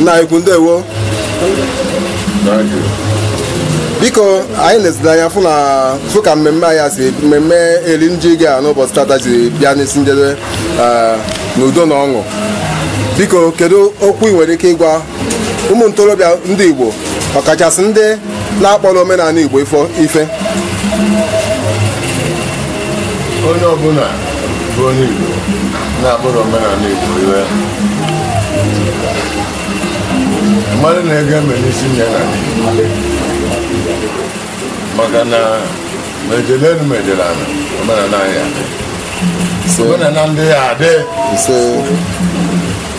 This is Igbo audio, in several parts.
nna anyị ukwu ndewo biko anyị na-ezide anya fụ na fụ ka mmemme anyị a si mmemme iri ji gaa n'ụbọchị tata ji bịa n'isi njedebe eh, n'udo na ọṅụ biko kedu okwu ị nwere ike ịgwa ụmụ ntorobịa ndị Igbo ọkachasị ndị na-akpọrọ omenala Igbo ife onye ọbụla bụ onye Igbo na-akpọrọ omenala Igbo ihe mara na ege eme n'isi ya na maka na ma ejele elu ma ejele ala omenala anyị adị omenala ndị ya adị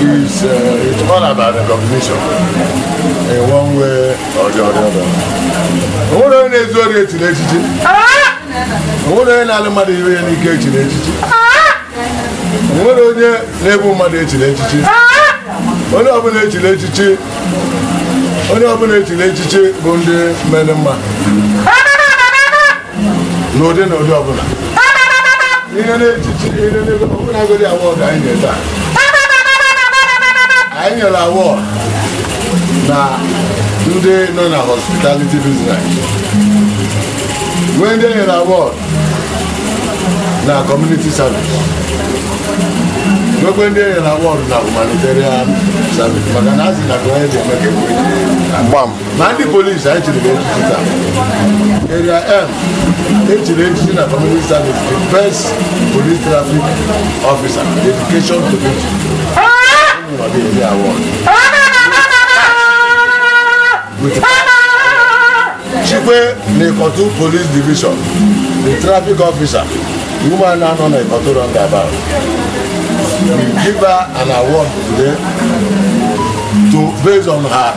is uh, it's all about recognition in one way or the other. Onwerọ onye na-ezu ori echiri echichi. Onwerọ onye na-analụ mmadụ ihe ya n'ike echiri echichi. Onwerọ onye na-egbu mmadụ echiri echichi. Onye ọbụla echiri echichi bụ ndị mere mma. n'ụdị na ụdị ọbụla ihe na-echichi ihe n'ebe ọbụla godi award anyị nyere taa anyị nyere award na ndị nọ na hospitality business nwee ndị e nyere award na community service nwekwe ndị e nyere award na humanitarian service maka na a sị na ka onye ji eme ka ekwe gbam ma ndị police anyị chiri echichi taa Area M echiri echichi na community service the best police traffic officer dedication to duty chikwe na Ikotun police division the traffic officer woman na-anọ na Ikotun roundabout we give her an award today to based on her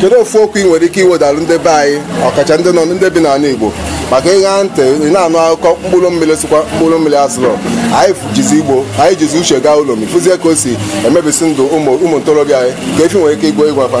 kedu ofu okwu ị nwere ike iwedalụ ndị be anyị ọkacha ndị nọ ndị bi n'ala Igbo maka ịṅa ntị ị na-anụ akụkọ mkpụrụ mmiri sịkwa mkpụrụ mmiri asụrụ anyị jizi igbo anyị jizi uche gaa ụlọ ma ị fụzie ka o si emebisi ndụ ụmụ ntorobịa anyị kee ife ị nwere ike igwe ịgwa fa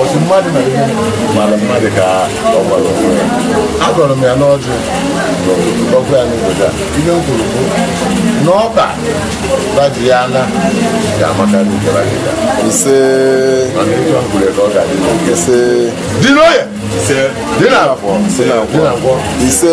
ọsị mmadụ na ihe mara mmadụ ka ọ gbara onwe ya agọrọ m ya n'ọjị ọkụ ya n'obodo a ihe m kwuru bụ na ọba baji ya na ga-amakarị nke gara aga ise mana ịchọ m kwuru ka ọ ga-adị n'eke ise dị n'oye ise dị na afọ ise na nkwọ ise